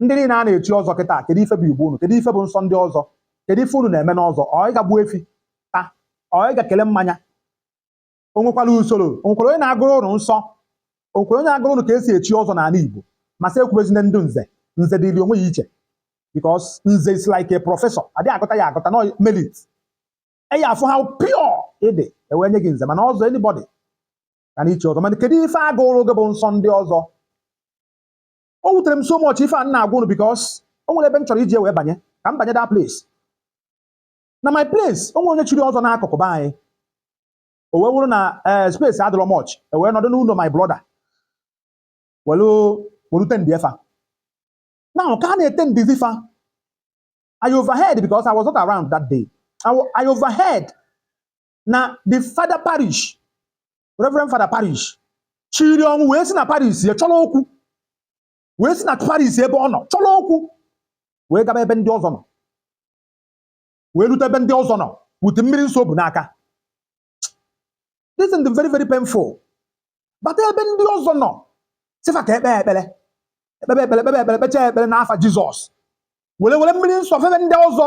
ndị niile a na-echi ọzọ kịta kedu ife bụ igbo unu kedu ife bụ nsọ ndị ọzọ kedu ife unu na-eme n'ọzọ ọ ị ga gbuo efi taa ọ ị ga kele mmanya o nwekwara usoro o nwekwara onye na-agụrụ unu nsọ o nwekwara onye na-agụrụ unu ka e si echi ọzọ n'ala igbo ma sị ekwubezina ndị nze nze dịrị onwe ya iche because nze is like a professor adị agụta ya agụta no merit e ya-afụ how pure ị dị e wee nye gị nze mana ọzọ anybody ka na-echi ọzọ mana kedu ife a gụrụ gị bụ nsọ ndị ọzọ o wutere m so much ife a m na-agwa unu because o nwere ebe m chọrọ iji wee banye ka m banye that place na my place o nwere onye chiri ọzọ n'akụkụ be anyị o wee wụrụ na ee space adịrọ much e wee nọdụ n'ụlọ my brother welu welu attendie fa now ka a na-attendizi fa I overheard because I was not around that day I, wa- I overheard na the father parish Reverend Fada Parish shiri ọnwụ wee si na parish ya chọrọ okwu wee si na parish ebe ọ nọ chọrọ okwu wee gaba ebe ndị ọzọ nọ wee rute ebe ndị ọzọ nọ with mmiri nsọ o bu n'aka this is very very painful bata ebe ndị ọzọ nọ sị fa ka e kpee ekpere e kpebe ekpere e kpebe ekpere kpechaa ekpere n'afa Jizọs were were mmiri nsọ febe ndị ọzọ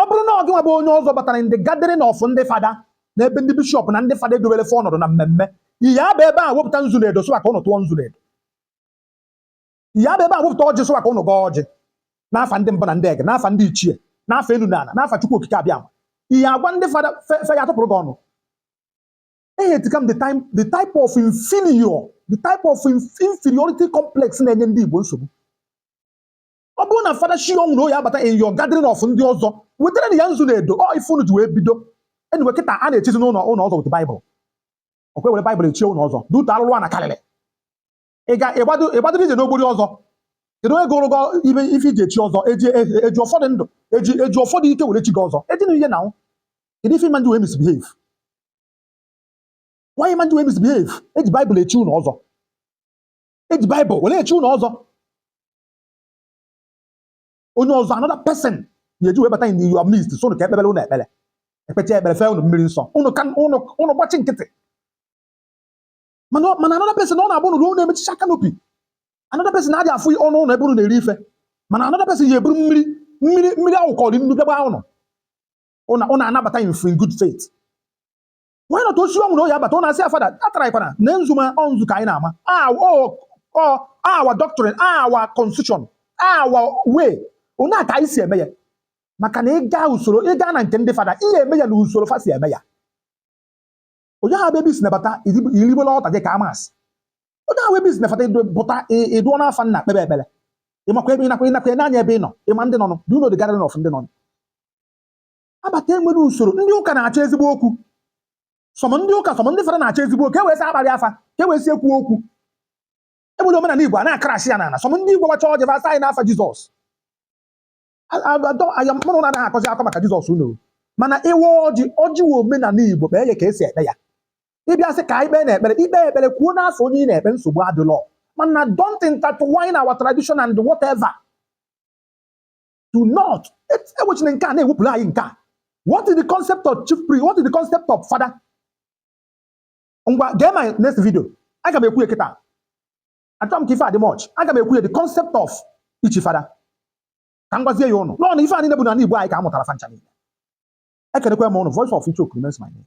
ọ bụrụ na ọ gịnwa bụ onye ọzọ batara in the gathering of ndị fada na ebe ndị bishọp na ndị fada e dobere fa ọnọdụ na mmemme ị ya-abịa ebe a wepụta nzu na edo sị wa ka unu tụọ nzu na edo ị ya-abịa ebe a wepụta ọjị sị wa ka unu gọọ ọjị n'afa ndị mbụ na ndị egede n'afa ndị ichie n'afa elu na ala n'afa chukwu okike abịama ị ya-agwa ndị fada fa fa ya-atụpụrụ gị ọnụ ehe tikam the time the type of inferior the type of inf- inferiority complex na-enye ndị igbo nsogbu ọ bụrụ na fada shi ọnwụ na ọ ya-abata in your gathering of ndị ọzọ wetaranụ ya nzu na edo ọ ife unu ji wee bido anyway kịta a na-echizi unu unu ọzọ with baịbụl ọ kwa e were baịbụl chie unu ọzọ due to alụlụ ana karịrị ị ga ị gbado ị gbadoro ije n'ogbori ọzọ kedu onye gụrụ gị ife ife e ji echi ọzọ e ji e- e ji ọfọ dị ndụ e ji e ji ọfọ dị ike were chi gị ọzọ ejina ihe na nwụ kedu ife ị ma eji wee misbehave why ị ma eji wee misbehave e ji baịbụl echi unu ọzọ e ji baịbụl were echi unu ọzọ onye ọzọ another person ya-eji wee bata in your midst sị unu ka e kpebere unu ekpere e kpechaa ekpere fee unu mmiri nsọ unu ka unu unu gbachi nkịtị mana ọ- mana another person ọ na-abụ unu ruo unu emechicha kanopi another person na-adị afụ ọnụ ụlọ ebe unu na-eri ife mana another person ya-eburu mmiri mmiri mmiri a wụkọrọ nnu bịa gbaa unu unu unu anabata in free good faith wee nọta osi ọnwụ na oyi abata ọ na-asị ya fada ataraghịkwana na nzuma ọnzu ka anyị na-ama our doctrine our constitution our way otu a ka anyị si eme ya maka na ịga usoro ịga na nke ndị fada ihe eme ya na usoro fa si eme ya onye ahụ ebe isi nabata irigbola ọta gị ka amasị onye ahụ ebe isi nabata pụta ịdụọ n'afa nna kpebe ekpere ịmakwa ebe ịnakwa ịnakwa n'anya ebe ị nọ ịma ndị nọ do you know the gathering of ndị nọ abata enwere usoro ndị ụka na-achọ ezigbo okwu some ndị ụka some ndị fada na-achọ ezigbo okwu ka e wee sị akparị fa ka e wee sị ekwu okwu egbere omenala igbo a na-akarashi ya n'ala some ndị igbo gbacha ọjị fa asa anyị n'afa jizọs aya mụrụ na anaghị akọzi akọ maka jizọs unu ma na ịwa ọjị ọjị wụ omenala igbo kpee ya ka esi ekpe ya ịbịa sị ka anyị kpee na ekpere ikpe ekpere kwuo n'afa onye ị na-ekpe nsogbu adịrọ mana don't intertwine our tradition and whatever do not ewechina nke a na-ewepụrụ anyị nke a what is the concept of chief priest what is the concept of fada ngwa gee my next video aga m ekwu ya kịta achọrọ m ka ife a dị much aga m ekwu ya the concept of ichi fada ka m gwazie ya unu n'ọnụ ife anyị na-ebu n'ala Igbo anyị ka a mụtara fa ncha niile ekenekwa m unu voice of Ichoku remains my name